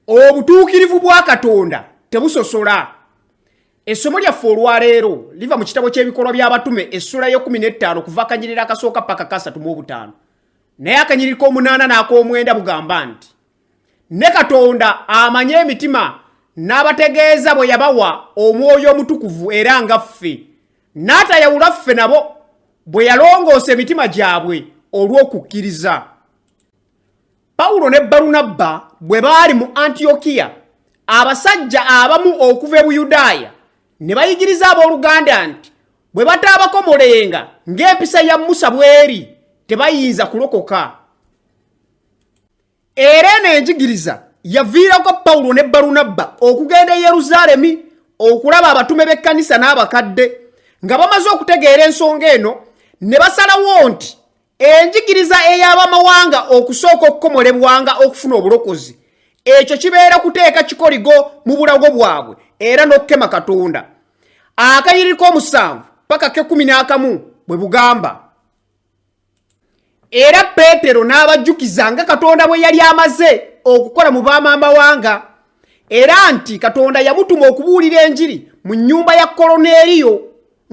obutuukirivu bwa katonda tebusosola essomo lyaffe olwaleero liva mu kitabo ky'ebikolwa by'abatume essula y'ekumi n'ettaano kuva akanyiriri akasooka paka kasatu mu obutaano naye akanyiriri k'omunaana n'ak'omwenda bugamba nti ne katonda amanye emitima n'abategeeza bwe yabawa omwoyo omutukuvu era nga ffe n'atayawula ffe nabo bwe yalongoosa emitima gyabwe olw'okukkiriza pawulo ne balunabba bwe baali mu antiyokiya abasajja abamu okuva e buyudaaya ne bayigiriza abooluganda nti bwe bataabakomolenga ng'empisa ya musa bw'eri tebayinza kulokoka era eno enjigiriza yaviirako pawulo ne balunabba okugenda e yerusaalemi okulaba abatume b'ekkanisa n'abakadde nga bamaze okutegeera ensonga eno ne basalawo nti enjigiriza ey'abamawanga okusooka okukomolebwanga okufuna obulokozi ekyo kibeera kuteeka kikoligo mu bulago bwabwe era n'okukema katonda akayiri k'omusanvu paka kekumi n'akamu bwe bugamba era peetero n'abajjukiza nga katonda bwe yali amaze okukola mu baamamawanga era nti katonda yamutuma okubuulira enjiri mu nnyumba ya koloneeriyo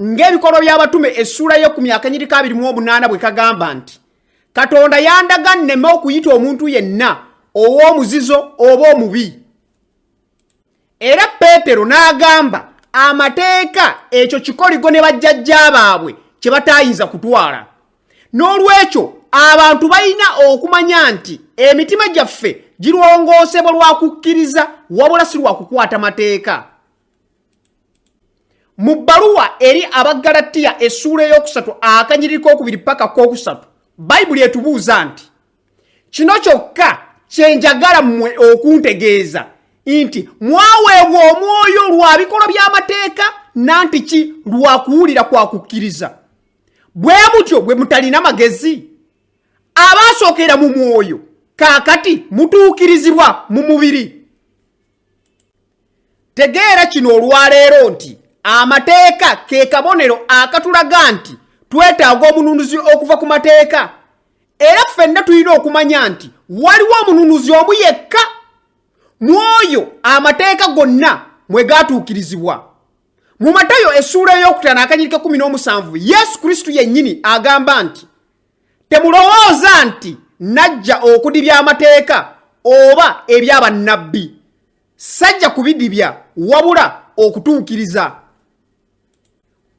Ng'ebikolwa by'abatume essuula ye ku myaka nyiriko abiri mu omunaana bwe kagamba nti katonda yandaga nneme okuyita omuntu yenna ow'omuzizo oba omubi era peetero n'agamba amateeka ekyo kikoligo ne bajjajja baabwe kye bataayinza kutwala n'olwekyo abantu balina okumanya nti emitima gyaffe girwongoosebwa lwa kukkiriza wabula si lwa kukwata mateeka mu bbaluwa eri abaggalatiya essuula ey'okusatu akanyiriri k'okubiri paka k'okusatu bayibuli etubuuza nti kino kyokka kye njagala mmwe okuntegeeza nti mwaweebwa omwoyo lwa bikolwa by'amateeka nanti ki lwa kuwulira kwa kukkiriza bwe mutyo bwe mutalina magezi abaasookera mu mwoyo kaakati mutuukirizibwa mu mubiri tegeera kino olwaleero nti amateeka ke kabonero akatulaga nti twetaaga omununuzi okuva ku mateeka era ffenna tulina okumanya nti waliwo omununuzi omu yekka mu oyo amateeka gonna mwe gaatuukirizibwa mu matayo essuula ey'okutano akanyirika kumi n'omusanvu yesu kristo yennyini agamba nti temulowooza nti najja okudibya amateeka oba ebyabannabbi sajja kubidibya wabula okutuukiriza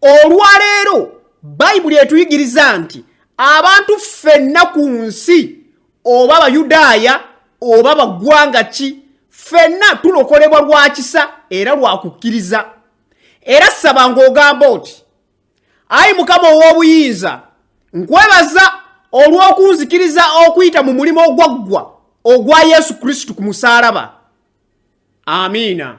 olwaleero bayibuli etuyigiriza nti abantu ffenna ku nsi oba abayudaaya oba baggwanga ki ffenna tulokolebwa lwa kisa era lwa kukkiriza era saba ng'ogamba oti ayi mukama ow'obuyinza nkwebaza olw'okunzikiriza okuyita mu mulimu ogwaggwa ogwa yesu kristo ku musaalaba amiina